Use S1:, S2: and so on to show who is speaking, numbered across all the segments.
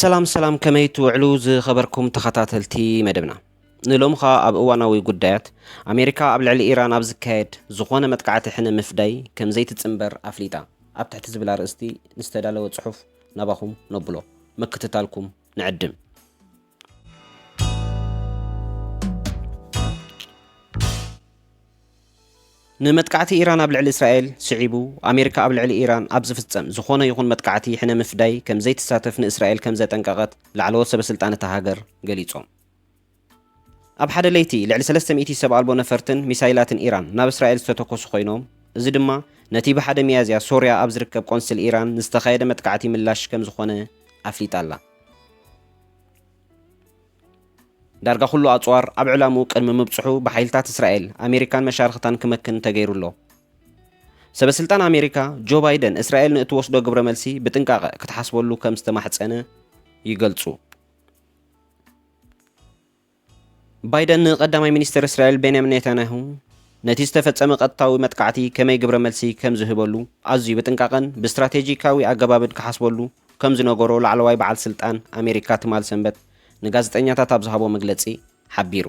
S1: ሰላም ሰላም ከመይ ትውዕሉ ዝኸበርኩም ተኸታተልቲ መደብና ንሎሚ ኸኣ ኣብ እዋናዊ ጉዳያት ኣሜሪካ ኣብ ልዕሊ ኢራን ኣብ ዝካየድ ዝኾነ መጥቃዕቲ ሕነ ምፍዳይ ከም ዘይትጽምበር ኣፍሊጣ ኣብ ትሕቲ ዝብል ኣርእስቲ ንዝተዳለወ ጽሑፍ ናባኹም ነብሎ ምክትታልኩም ንዕድም። ንመጥቃዕቲ ኢራን ኣብ ልዕሊ እስራኤል ስዒቡ ኣሜሪካ ኣብ ልዕሊ ኢራን ኣብ ዝፍጸም ዝኾነ ይኹን መጥቃዕቲ ሕነ ምፍዳይ ከምዘይትሳተፍ ንእስራኤል ከምዘጠንቀቐት ላዕለዎት ሰበስልጣን እታ ሃገር ገሊጾም። ኣብ ሓደ ለይቲ ልዕሊ ሰለስተ ሚእቲ ሰብ ኣልቦ ነፈርትን ሚሳይላትን ኢራን ናብ እስራኤል ዝተተኮሱ ኮይኖም፣ እዚ ድማ ነቲ ብ ሓደ ሚያዝያ ሶርያ ኣብ ዝርከብ ቆንስል ኢራን ንዝተኻየደ መጥቃዕቲ ምላሽ ከምዝኾነ ኣፍሊጣ ኣላ። ዳርጋ ኩሉ ኣጽዋር ኣብ ዕላምኡ ቅድሚ ምብጽሑ ብሓይልታት እስራኤል፣ ኣሜሪካን መሻርኽታን ክመክን ተገይሩ ኣሎ። ሰበስልጣን ኣሜሪካ ጆ ባይደን እስራኤል ንእትወስዶ ግብረመልሲ ብጥንቃቐ ክትሓስበሉ ከምዝተማሕጸነ ይገልጹ። ባይደን ንቀዳማይ ሚኒስተር እስራኤል ቤንያሚን ኔታንያሁ ነቲ ዝተፈጸመ ቀጥታዊ መጥቃዕቲ ከመይ ግብረ መልሲ ከም ዝህበሉ ኣዝዩ ብጥንቃቐን ብስትራቴጂካዊ ኣገባብን ክሓስበሉ ከም ዝነገሮ ላዕለዋይ በዓል ስልጣን ኣሜሪካ ትማል ሰንበት ንጋዜጠኛታት ኣብ ዝሃቦ መግለጺ ሓቢሩ።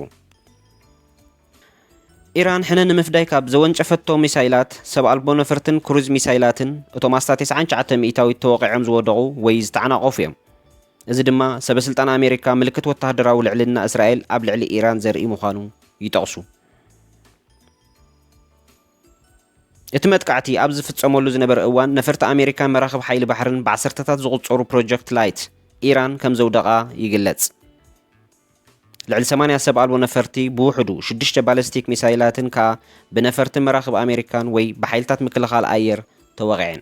S1: ኢራን ሕነ ንምፍዳይ ካብ ዘወንጨፈቶ ሚሳይላት፣ ሰብ ኣልቦ ነፈርትን ክሩዝ ሚሳይላትን፣ እቶም ኣስታት 99 ሚእታዊት ተወቒዖም ዝወደቑ ወይ ዝተዓናቐፉ እዮም። እዚ ድማ ሰበስልጣን ኣሜሪካ ምልክት ወተሃደራዊ ልዕልና እስራኤል ኣብ ልዕሊ ኢራን ዘርኢ ምዃኑ ይጠቕሱ። እቲ መጥቃዕቲ ኣብ ዝፍጸመሉ ዝነበረ እዋን ነፈርቲ ኣሜሪካን መራኽብ ሓይሊ ባሕርን ብዓሰርተታት ዝቑጸሩ ፕሮጀክት ላይት ኢራን ከም ዘውደቓ ይግለጽ። ልዕሊ 80 ሰብ ኣልቦ ነፈርቲ ብውሕዱ ሽዱሽተ ባለስቲክ ሚሳይላትን ከኣ ብነፈርትን መራኽብ ኣሜሪካን ወይ ብሓይልታት ምክልኻል ኣየር ተወቒዐን።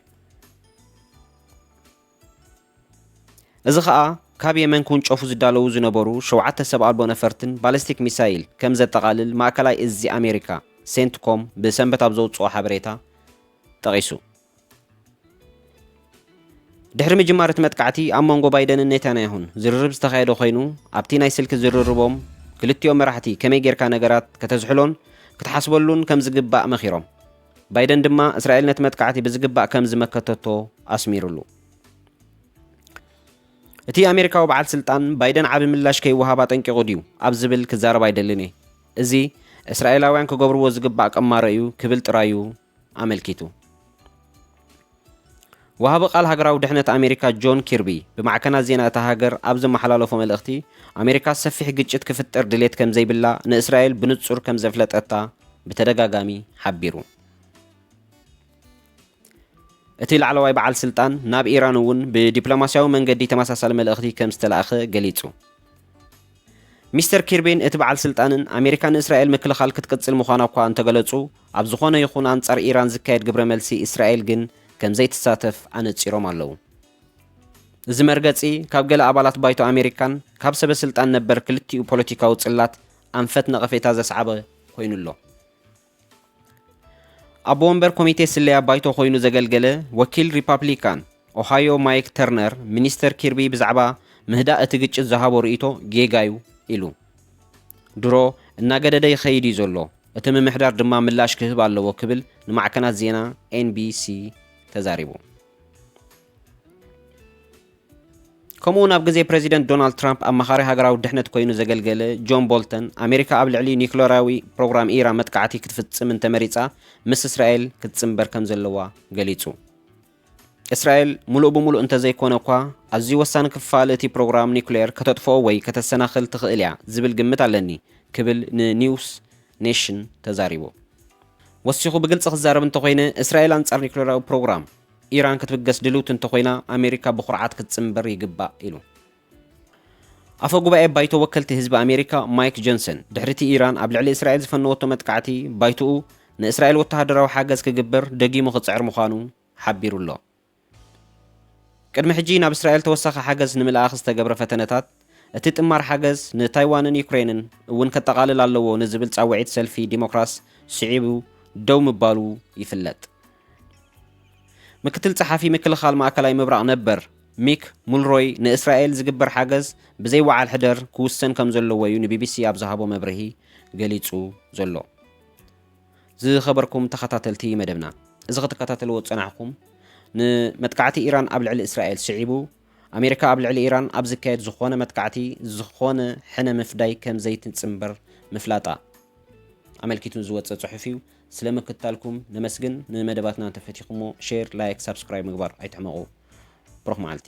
S1: እዚ ኸኣ ካብ የመን ክውንጨፉ ዝዳለዉ ዝነበሩ ሸውዓተ ሰብ ኣልቦ ነፈርትን ባለስቲክ ሚሳይል ከም ዘጠቓልል ማእከላይ እዚ ኣሜሪካ፣ ሴንትኮም፣ ብሰንበት ኣብ ዘውጽኦ ሓበሬታ ጠቒሱ። ድሕሪ ምጅማር እቲ መጥቃዕቲ ኣብ መንጎ ባይደንን ኔታንያሁን ዝርርብ ዝተኻየደ ኮይኑ፣ ኣብቲ ናይ ስልኪ ዝርርቦም ክልቲኦም መራሕቲ ከመይ ጌርካ ነገራት ከተዝሕሎን ክትሓስበሉን ከም ዝግባእ መኺሮም። ባይደን ድማ እስራኤል ነቲ መጥቃዕቲ ብዝግባእ ከም ዝመከተቶ ኣስሚሩሉ። እቲ ኣሜሪካዊ በዓል ስልጣን ባይደን ዓቢ ምላሽ ከይወሃብ ኣጠንቂቑ ድዩ ኣብ ዝብል ክዛረብ ኣይደልን እየ፣ እዚ እስራኤላውያን ክገብርዎ ዝግባእ ቅማረ እዩ ክብል ጥራዩ ኣመልኪቱ። ወሃቢ ቃል ሃገራዊ ድሕነት ኣሜሪካ ጆን ኪርቢ ብማዕከናት ዜና እታ ሃገር ኣብ ዘመሓላለፎ መልእኽቲ፣ ኣሜሪካ ሰፊሕ ግጭት ክፍጠር ድሌት ከምዘይብላ ንእስራኤል ብንጹር ከምዘፍለጠታ ብተደጋጋሚ ሓቢሩ። እቲ ላዕለዋይ በዓል ስልጣን ናብ ኢራን እውን ብዲፕሎማስያዊ መንገዲ ተመሳሳሊ መልእኽቲ ከምዝተላእከ ገሊጹ። ሚስተር ኪርቢን እቲ በዓል ስልጣንን ኣሜሪካ ንእስራኤል ምክልኻል ክትቅጽል ምዃና እኳ እንተገለጹ፣ ኣብ ዝኾነ ይኹን ኣንጻር ኢራን ዝካየድ ግብረ መልሲ እስራኤል ግን ከም ዘይትሳተፍ ኣነጺሮም ኣለዉ። እዚ መርገጺ ካብ ገለ ኣባላት ባይቶ ኣሜሪካን ካብ ሰበ ስልጣን ነበር ክልቲኡ ፖለቲካዊ ጽላት ኣንፈት ነቐፌታ ዘስዓበ ኮይኑ ኣሎ። ኣቦ ወንበር ኮሚቴ ስለያ ባይቶ ኮይኑ ዘገልገለ ወኪል ሪፓብሊካን ኦሃዮ ማይክ ተርነር ሚኒስተር ኪርቢ ብዛዕባ ምህዳእ እቲ ግጭት ዝሃቦ ርእይቶ ጌጋ'ዩ ኢሉ። ድሮ እናገደደ ይኸይድ እዩ ዘሎ፣ እቲ ምምሕዳር ድማ ምላሽ ክህብ ኣለዎ ክብል ንማዕከናት ዜና ኤንቢሲ ተዛሪቡ። ከምኡ'ውን ኣብ ግዜ ፕረዚደንት ዶናልድ ትራምፕ ኣማኻሪ ሃገራዊ ድሕነት ኰይኑ ዘገልገለ ጆን ቦልተን፣ ኣሜሪካ ኣብ ልዕሊ ኒዩክለራዊ ፕሮግራም ኢራን መጥቃዕቲ ክትፍጽም እንተመሪጻ ምስ እስራኤል ክትጽንበር ከም ዘለዋ ገሊጹ። እስራኤል ምሉእ ብምሉእ እንተዘይኰነ'ኳ ኣዝዩ ወሳኒ ክፋል እቲ ፕሮግራም ኒዩክሌር ከተጥፍኦ ወይ ከተሰናኽል ትኽእል እያ ዝብል ግምት ኣለኒ ክብል ንኒውስ ኔሽን ተዛሪቡ። ወሲኹ ብግልጺ ክዛረብ እንተዀይነ፣ እስራኤል ኣንጻር ኒዩክለራዊ ፕሮግራም፣ ኢራን ክትብገስ ድልውቲ እንተኾይና ኣሜሪካ ብኹርዓት ክትጽንበር ይግባእ ኢሉ። ኣፈ ጉባኤ ባይቶ ወከልቲ ህዝቢ ኣሜሪካ ማይክ ጆንሰን፣ ድሕሪ'ቲ ኢራን ኣብ ልዕሊ እስራኤል ዝፈነወቶ መጥቃዕቲ፣ ባይቶኡ ንእስራኤል ወተሃደራዊ ሓገዝ ክግበር ደጊሙ ክጽዕር ምዃኑ ሓቢሩ'ሎ። ቅድሚ ሕጂ ናብ እስራኤል ተወሳኺ ሓገዝ ንምልኣኽ ዝተገብረ ፈተነታት፣ እቲ ጥማር ሓገዝ ንታይዋንን ዩክረይንን እውን ከጠቓልል ኣለዎ ንዝብል ጻውዒት ሰልፊ ዲሞክራስ ስዒቡ ደው ምባሉ ይፍለጥ። ምክትል ጸሓፊ ምክልኻል ማእከላይ ምብራቕ ነበር ሚክ ሙልሮይ ንእስራኤል ዝግበር ሓገዝ ብዘይ ወዓል ሕደር ክውሰን ከም ዘለዎ እዩ ንቢቢሲ ኣብ ዝሃቦ መብርሂ ገሊጹ ዘሎ። ዝኸበርኩም ተኸታተልቲ መደብና፣ እዚ ክትከታተልዎ ዝጸናሕኩም ንመጥቃዕቲ ኢራን ኣብ ልዕሊ እስራኤል ስዒቡ ኣሜሪካ ኣብ ልዕሊ ኢራን ኣብ ዝካየድ ዝኾነ መጥቃዕቲ ዝኾነ ሕነ ምፍዳይ ከም ዘይትጽንበር ምፍላጣ ኣመልኪቱ ዝወጸ ጽሑፍ እዩ። ስለ ምክትታልኩም ነመስግን። ንመደባትና እንተፈቲኹሞ ሼር፣ ላይክ፣ ሳብስክራይብ ምግባር ኣይትሕመቑ። ብሩኽ መዓልቲ።